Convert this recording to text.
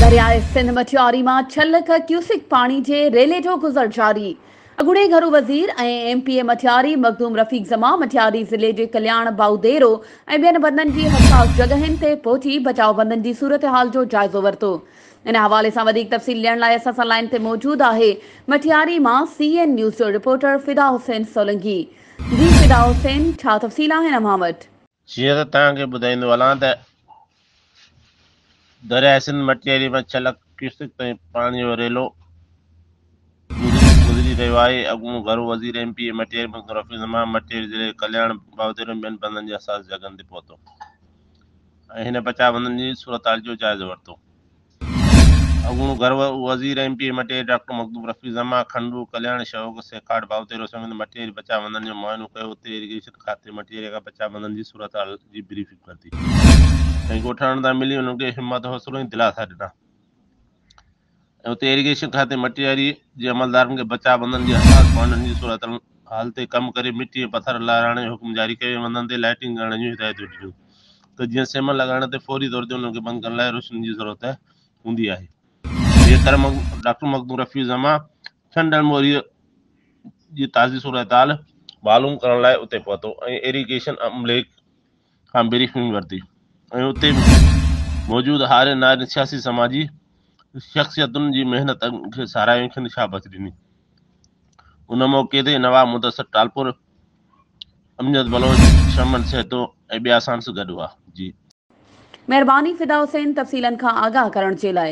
درياء سنڌ مٺياري مان ڇهه لک ڪيوسڪ پاڻي جي ريلي جو گذر جاري، اڳوڻي گهرو وزير ۽ M P A Matiari Makhdoom Rafiq Zaman Matiari ضلعي جي ڪلياڻ، بائوديرو ۽ ٻين بندن جي حساس جڳهين تي پهچي بچاء بندن جي صورتحال جو جائزو ورتو. ان حوالي سان وڌيڪ تفصيل ڏيڻ لاء اسان سان لائين تي موجود آهي مٺياري مان سي اين نيوز جو رپورٽر فدا حسين سولنگي جي فدا حسين ڇا تفصيل آهن اوهان وٽ؟ جيئن ته توهان کي ٻڌائيندو هلان ته درياء سنڌ مٽياري مان ڇهه لک ڪيوسڪ تائين پاڻي جو ريلو گذري رهيو آهي اڳوڻو گهرو وزير M P A Matiari Makhdoom Rafi Uzzaman Matiari ضلعي جي ڪلياڻ باوديرو ۽ ٻين بندن جي حساس جڳهن تي پهتو ۽ هن بچاء بندن جي صورتحال جو جائزو ورتو اڳوڻو گهر وزير ۽ M P A Matiari doctor Makhdoom Rafiq Zaman کنڊو، ڪلياڻ شوق سيکاڙ ڀائوتيرو سميت مٽيري بچاء بندن جو معائنو ڪيو، اتي ايريگيشن کاتي مٽيري کان بچاء بندن جي صورتحال جي بريفنگ ورتي ۽ ڳوٺ وارن سان ملي انهن کي همت حوصلو ۽ دلاسا ڏنا ۽ اتي ايريگيشن کاتي مٽيري جي عملدارن کي بچاء بندن جي حساس پوائنٽن جي صورتحال تي ڪم ڪري مٽي ۽ پٿر لاراڻ جو حڪم جاري ڪيو ۽ بندن تي لائيٽنگ ڪرڻ جون هدايتون ڏنيون. ته جيئن سيمن لڳائڻ تي فوري طور تي انهن کي بند ڪرڻ لاء روشني جي ضرورت هوندي آهي. ٻيء طرف ڊاڪٽر مخدوم رفيع الزمان ڇهن ڏينهن موريء جي تازي صورتحال معلوم ڪرڻ لاء اتي پهتو ۽ ايريگيشن عملي کان بريفنگ ورتي ۽ اتي موجود هارين نارين سياسي سماجي شخصيتن جي محنت کي ساراهيو ۽ کين شاباس ڏني ان موقعي تي نواب مدثر ٽالپور امجد بلوچ، شمن سهتو ۽ ٻيا اسان سان گڏ هئا. جي. مهرباني فدا حسين تفصيلن کان آگاهه ڪرڻ جي لاء.